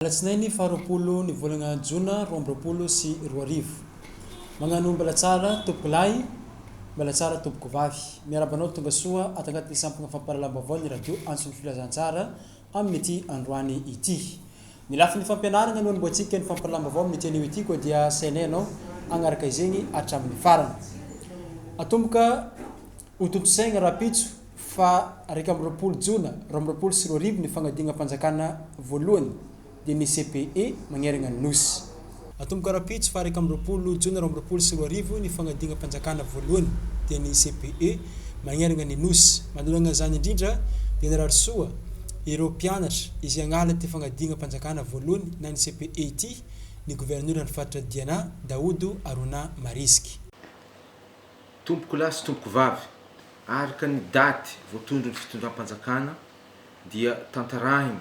Alatsinainy faha roapolo ny volana jona roa amby roapolo sy roa arivo. Magnano mbala tsara tompoko lahy, mbala tsara tompoko vavy. Miaraba anao tonga soa ato anatin'ny sampona fampahalalam-baovao ny radio Antso ny Filazantsara amin'ity androany ity. Ny lafiny fampianarana no anombohantsika ny fampilam-baovao amin'ity anio ity koa dia sainay ianao hagnaraka izegny hatramin'ny farany. Atomboka ho tontosaigna rahampitso faha iraika amby roapolo jona roa amby roapolo sy roa arivo ny fagnadinam-panjakana voalohany. dia ny CPE magneragna ny Nosy. Atomboka rahampitso faha iraika amby roapolo jona roa amby roapolo sy roa arivo ny fanadinam-panjakana voalohany dia ny CPE magneragna ny Nosy. Manoloana izany indrindra dia narary soa ireo mpianatra izay hagnala ity fanadinam-panjakana voalohany na ny CPE ity ny governoran'ny faritra Diana, Daodo Arona Marisky. Tompoko lahy sy tompoko vavy, araka ny daty voatondron'ny fitondram-panjakana dia tantarahina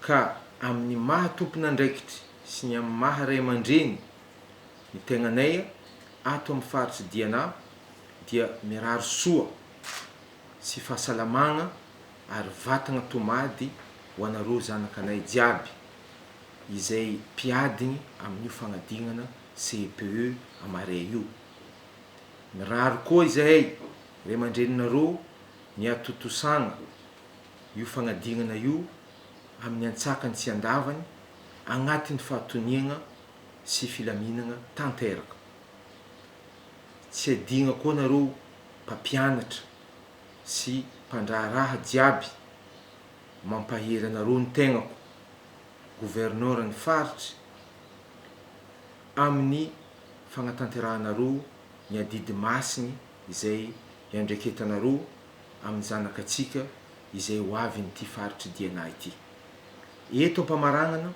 ka amin' ny maha tompon'andraikitry sy ny amin'ny maha ray aman-dreny ny tegnanay ato amin'ny faritry Diana dia mirary soa sy fahasalamagna ary vatagna tomady ho anareo zanakanay jiaby izay mpiadigny amin'io fagnadignana CEPE à Marea io. Mirary koa izahay ray aman-dreninareo ny hatontosagna. io fanadinana io amin'ny antsakany sy andavany agnatin'ny fahatoniagna sy filaminagna tanteraka. Tsy adigna koa nareo mpampianatra sy mpandraharaha jiaby mampahery anareo ny tegnako, Gouverneur ny faritry, amin'ny fagnatanterahanareo ny adidy masigny izay iandraiketanareo amin'ny zanakatsika izay ho avy amin'ity faritr'i Diana ity. Eto am-pamaranana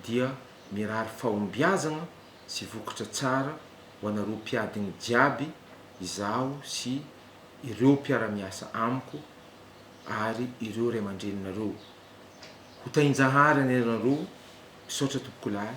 dia mirary fahombiazana sy vokatra tsara ho anareo mpiadiny jiaby izaho sy ireo mpiara-miasa amiko ary ireo ray aman-dreninareo. Ho tahinjahary anareo, misaotra tompokolahy.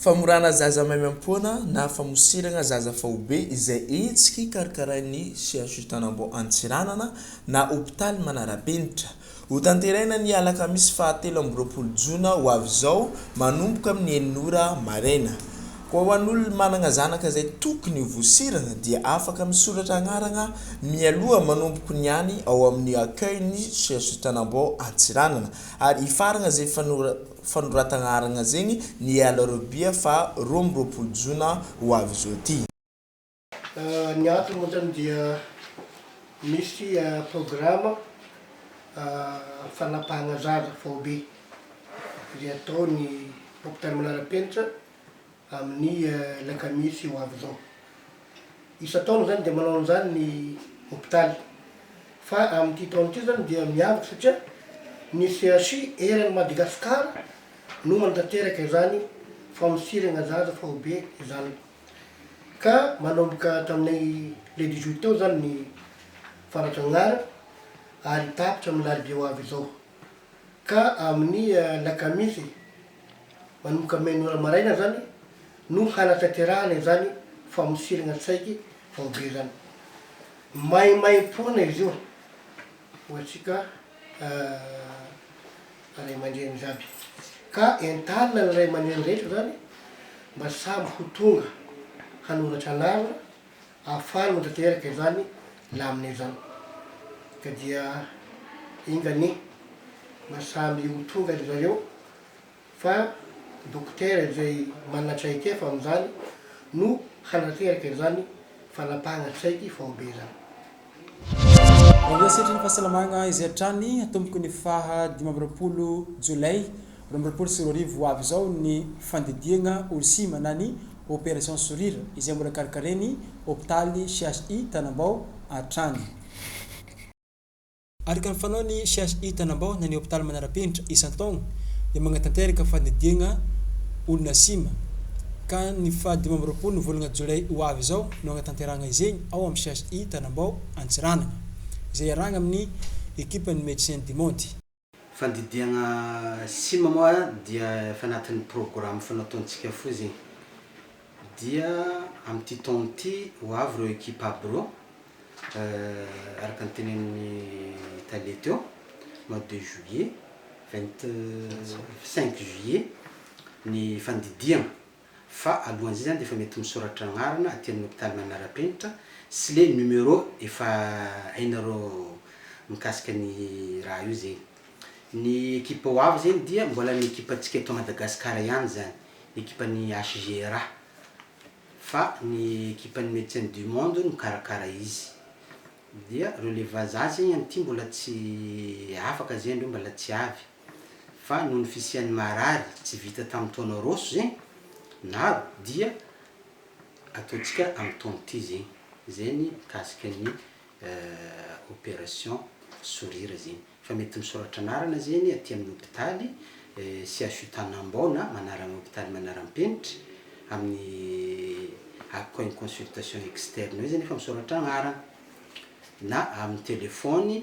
Famorana zaza maimaim-poana na famosiragna zaza faobe izay hetsiky karkarain'ny CHU Tanambao Antsiranana na hopitaly manara-penitra. Ho tanteraina ny alakamisy faha telo amby roapolo jona ho avy izao manomboka amin'ny enina ora maraina. Koa ho an'olona managna zanaka izay tokony ho vosiragna dia afaka misoratra agnaragna mialoha manomboko niany ao amin'ny accueil-n'ny CHU Tanambao Antsiranana ary hifaragna izay fanoratagna aragna zegny ny alarobia faha roa amby roapolo jona ho avy izao ty. Ny antony moa zany dia misy programa fanapahagna zaza faobe izay ataon'ny hopitaly Manarapenitra. amin'ny Lakamisy ho avy izao. Isan-taona izany dia manao an'izany ny hopitaly. Fa amin'ity taona ity izany dia miavaka satria ny CHU eran'i Madagasikara no manatanteraka izany famosirana zaza faobe izany. Ka manomboka tamin'ny le dix juillet teo izany ny fanatsangana ary tapitra amin'ny alarobia ho avy izao. ka amin'ny alakamisy manomboka main' ora maraina izany no hanatanterahana izany famosirana tsaiky vaobe izany. Maimaimpoana izy io ho antsika ray aman-dreny jiaby, ka entanina ny ray aman-dreny rehetra izany mba samy ho tonga hanoratra anarana. Afaly no tanteraka izany lamina izany ka dia enga anie mba samy ho tonga ry zareo fa dokotera izay manana traikefa amin'izany no hanateraka izany fanapahana saiky faobe izany. Aloha sehatry ny fahasalamagna izay hatrany hatomboky ny faha dimy amby roapolo Jolay roa amby roapolo sy roa arivo ho avy izao ny fandidiagna Olsim na ny Operation Sourire izay mbola karakarain'ny hopitaly CHI Tanambao hatrany. Araka ny fanaon'ny CHI Tanambao na ny hopitaly manara-penitra isan-taogna dia magnatanteraka fandidiagna olona sima ka ny faha dimy amby roapolo volagna Jolay ho avy izao no hanatanterahana izegny ao am CHI Tanambao Antsiranana, izay iarahagna amin'ny ekipan'ny Médecins du Monde. Fandidiagna sima moa dia efa anatin'ny programa efa nataontsika fohy zegny. Dia amin'ity taogno ity ho avy ireo ekipa aby ireo, araka ny tenenin'ny tale teo, mois de juillet, vingt cinq juillet ny fandidiagna. fa alohan'izay dia efa mety misoratra anarana aty amin'ny hopitaly manara-penitra sy le numéro efa hainareo mikasika ny raha io zegny. Ny ekipa ho avy zegny dia mbola ny ekipantsika eto Madagasikara ihany zany, ekipan'ny HGRA fa ny ekipan'ny Medecins du Monde no mikarakara izy. Dia reo le vazaha zegny anty mbola tsy afaka zay ndreo mbala tsy avy. fa noho ny fisian'ny marary tsy vita tamin'ny taona roso zegny naro dia ataontsika amin'ny taona ty zegny, zay ny mikasika ny operation sourire zegny, fa mety misoratra anarana zegny aty amin'ny hopitaly CHU Tanambao na manarana hopitaly manaram-penitra amin'ny akao iny consultation externe io zay nefa misoratra agnarana na amin'ny telefony.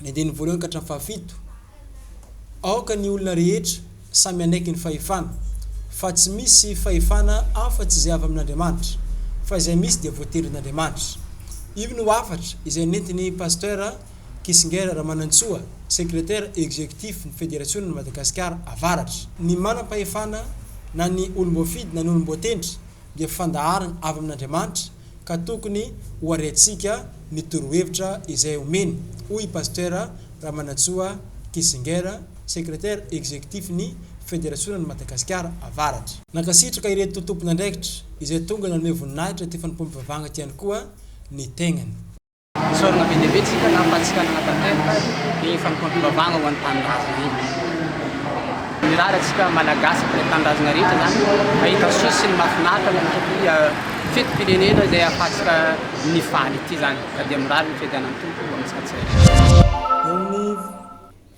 ny andininy voalohany ka hatramin'ny fahafito, Aoka ny olona rehetra samy hanaiky ny fahefana, fa tsy misy fahefana afa-tsy izay avy amin'Andriamanitra, fa izay misy dia voatelin'Andriamanitra. Io no hafatra izay nentin'i Pasteur Kissinger Ramanantsoa, Secretaire Executif ny Federasionan'i Madagasikara Avaratra. Ny manam-pahefana na ny olom-boafidy na ny olom-boatendry dia fandaharana avy amin'Andriamanitra ka tokony ho ariantsika ny torohevitra izay omeny, hoy i Pasteur Ramanantsoa Kissinger, Secretaire Executif ny Federasionan'i Madagasikara Avaratra. Nankasitraka ireto tompon'andraikitra izay tonga nanome voninahitra ity fanompoam-pivavahana ity ihany koa ny tegnany. Isaorana be dia be tsika tamin'ny fanisitrana tanteraka ny fanompoam-pivavahana ho an'ny tanindrazana eto. Mirary antsika Malagasy sy ny tanindrazana rehetra izany hahita soa sy ny mahafinaritra any amin'ity fetim-pirenena izay ahafahantsika mifaly ity izany, ka dia mirary ny fiadianan'ny Tompo ho antsika tsirairay.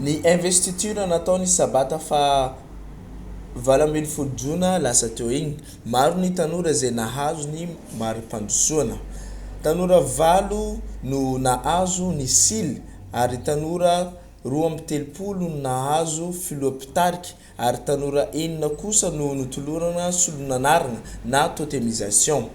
Ny investiture natao ny sabata faha valo ambin'ny folo jona lasa teo iny. Maro ny tanora izay nahazo ny mari-pandrosoana. Tanora valo no nahazo ny sily ary tanora roa amby telopolo no nahazo filoha mpitarika ary tanora enina kosa no notolorana solon'anarana na totemisation.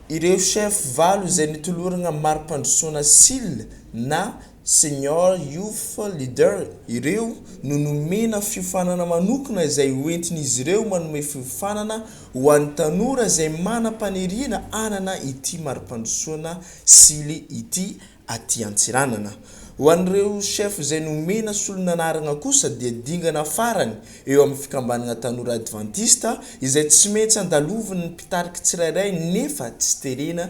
Ireo chef valo izay nitoloragna mari-pandrosoana sily na Senior Youth Leader ireo no nomena fiofanana manokana izay hoentin'izy ireo manome fiofanana ho an'ny tanora izay manam-paniriana hanana ity mari-pandrosoana sily ity aty Antsiranana. Ho an'ireo chef izay nomena solon'anaragna kosa dia dingana farany eo amin'ny fikambanagna tanora advantista izay tsy maintsy andalovin'ny mpitarika tsirairay nefa tsy terena